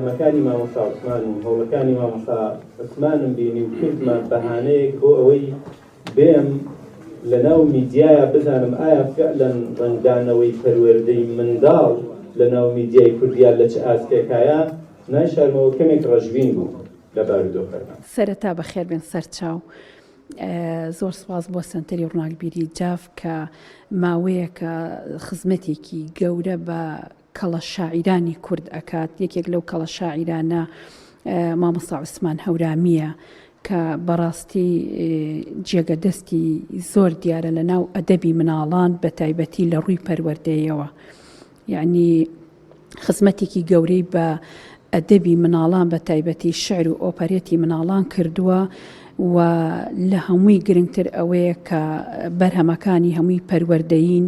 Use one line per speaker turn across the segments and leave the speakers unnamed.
تەمەکانی مامۆستا عوسمان و هەوڵەکانی مامۆستا عوسمانم بینی و کردمە بەهانەیەک بۆ ئەوەی بێم لەناو میدیایە بزانم ئایا فعلەن ڕەنگدانەوەی پەروەردەی منداڵ لەناو میدیای کوردیا لە چ ئاستێکایە، نایشارمەوە کەمێک ڕەشبین بووم لە بارودۆخەکە. سەرەتا بەخێربێن
سەرچاو. زۆر سپاس بۆ سەنتەری ڕوناکبیری جاف کە ماوەیەکە خزمەتێکی گەورە بە کەڵە شاعیرانی کورد ئەکات یەکێک لەو کەڵە شاعیرانە مامۆستا عوسمان هەورامیە کە بەڕاستی جێگە دەستی زۆر دیارە لە ناو ئەدەبی مناڵان بە تایبەتی لە ڕووی پەروەردەیەوە یعنی خزمەتێکی گەورەی بە ئەدەبی مناڵان بە تایبەتی شعر و ئۆپەرێتی مناڵان کردووە و لە هەمووی گرنگتر ئەوەیە کە بەرهەمەکانی هەمووی پەروەردەین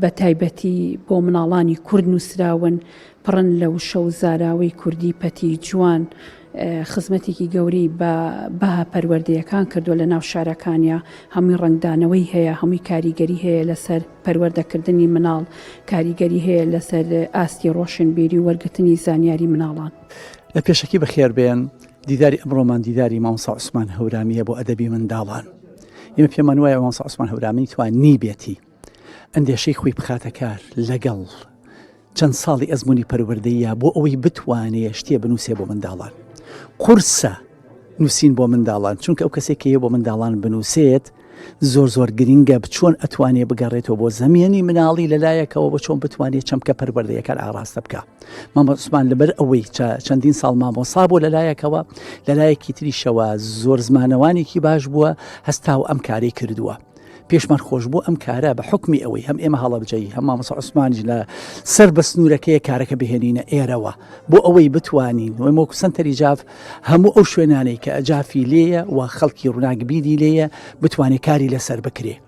بە تایبەتی بۆ مناڵانی کورد نووسراون، پڕن لە وشە و زاراوەی کوردی پەتی جوان، خزمەتێکی گەورەی بە بەها پەروەردەیەکان کردووە لە ناو شارەکانیا، هەمووی ڕەنگدانەوەی هەیە، هەمووی کاریگەری هەیە لەسەر پەروەردەکردنی مناڵ، کاریگەری هەیە لەسەر ئاستی ڕۆشنبیری و وەرگرتنی زانیاری مناڵان. لە پێشەکی
بەخێربێن، دیداری ئەمڕۆمان دیداری مامۆستا عوسمان هەورامییە بۆ ئەدەبی منداڵان. ئێمە پێمان وایە مامۆستا عوسمان هەورامی توانیبێتی ئەندێشەی خۆی بخاتە کار لەگەڵ چەند ساڵی ئەزمموی پەروەردەیە بۆ ئەوەی بتوانێت شتێ بنووسێ بۆ منداڵان قورسە نووسین بۆ منداڵان چونکە ئەو کەسێک کە بۆ منداڵان بنووسێت زۆر زۆر گرنگە بچۆن ئەتوانێ بگەڕێتەوە بۆ زەمێنی مناڵی لەلایەکەوە بە چۆن بتوانێت چەمکە پەروەردەیەکان ئاراستە بکە مامۆسمان لەبەر ئەوەی چەندین ساڵ مامۆسا بۆ لەلایەکەوە لەلایەکی تریشەوە زۆر زمانەوانێکی باش بووە هەستا و ئەم کاری کردووە. پێشمان خۆش بوو ئەم کارە بە حکمی ئەوەی هەم ئێمە هەڵەبجەی هەم مامۆسا عوسمانج لە سەر بە سنوورەکەی کارەکە بهێنینە ئێرەوە بۆ ئەوەی بتوانین وی مۆکو سنتەری جاف هەموو ئەو شوێنانەی کە ئەجافی لێیە و خەڵکی ڕووناکبیری لێیە بتوانێت کاری لەسەر بکرێت.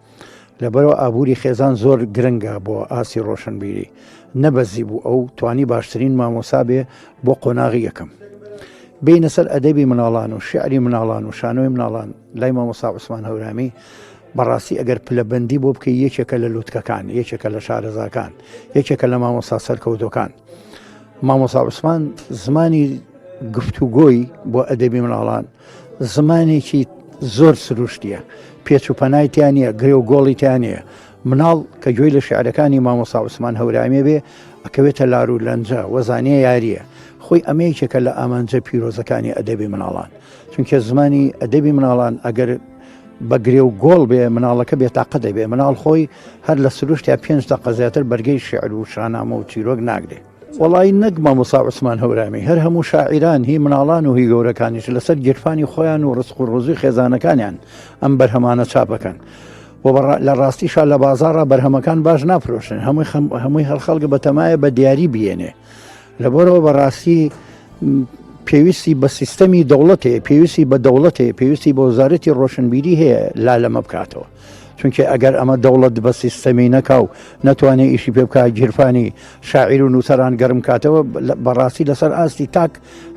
لەبەرەوە ئابووری خێزان زۆر گرنگە بۆ ئاسی ڕۆشنبیری نەبەزی بوو ئەو توانی باشترین مامۆسا بێ بۆ قۆناغی یەکەم بینە سەر ئەدەبی مناڵان و شعری مناڵان و شانۆی مناڵان لای مامۆسا عوسمان هەورامی بەڕاستی ئەگەر پلەبندی بۆ بکە یەکێکە لە لوتکەکان یەکێکە لە شارەزاکان یەکێکە لە مامۆسا سەرکەوتەکان مامۆسا عوسمان زمانی گفتوگۆی بۆ ئەدەبی مناڵان زمانێکی زۆر سروشتیە پێچ و پەنای تیا نیە گرێ و گۆڵی تیا نیە مناڵ کە گوێی لە شعرەکانی مامۆسا عوسمان هەورامی بێ ئەکەوێتە لار و لەنجە وەزانە یاریە خۆی ئەمەیەکێکە لە ئامانجە پیرۆزەکانی ئەدەبی مناڵان چونکە زمانی ئەدەبی مناڵان ئەگەر بەگرێ و گۆڵ بێ مناڵەکە بێتاقە دەبێ مناڵ خۆی هەر لە سروشتیا پێنج دە قەزیاتر بەرگەی شعر و شانامە و چیرۆک ناگرێ وەڵایی نەک مامۆسا عوسمان هەورامی هەر هەموو شاعیران هی مناڵان و هی گەورەکانیش لەسەر گیرفانی خۆیان و ڕسق و ڕۆزی خێزانەکانیان ئەم بەرهەمانە چاپەکەن و لە ڕاستیشا لە بازارڕا بەرهەمەکان باش نافرۆشن هەمووی هەمووی هەر خەڵکە بەتەمایە بە دیاری بێنێ لەبەرەوە بەڕاستی پێویستی بە سیستەمی دەوڵەتێ پێویستی بە دەوڵەتێ پێویستی بە وزارەتی ڕۆشنبیری هەیە لا لەمە بکاتەوە چونکێ ئەگەر ئەمە دەوڵەت بە سیستەمی نەکا و نەتوانێ ئیشی پێ بکە گیرفانی شاعیر و نووسەران گەرم کاتەوە بەڕاستی لەسەر ئاستی تاک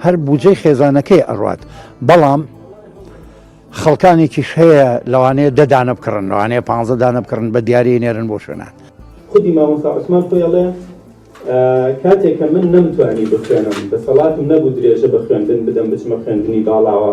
هەر بجێ خێزانەکەی ئەڕات بەڵام خەڵکانێکیش هەیە لەوانەیە دەدانە بکڕن لەوانەیە پ دانە بکڕن بە دیاری نێرن بۆ شوێنان خودی مامۆستا
عوسمان خۆیڵێ کاتێککە من نەمتوانی بخوێنم دەسەڵاتم نەبوو درێژە بە خوێندن بدەم بچمە خوێندنی باڵاوە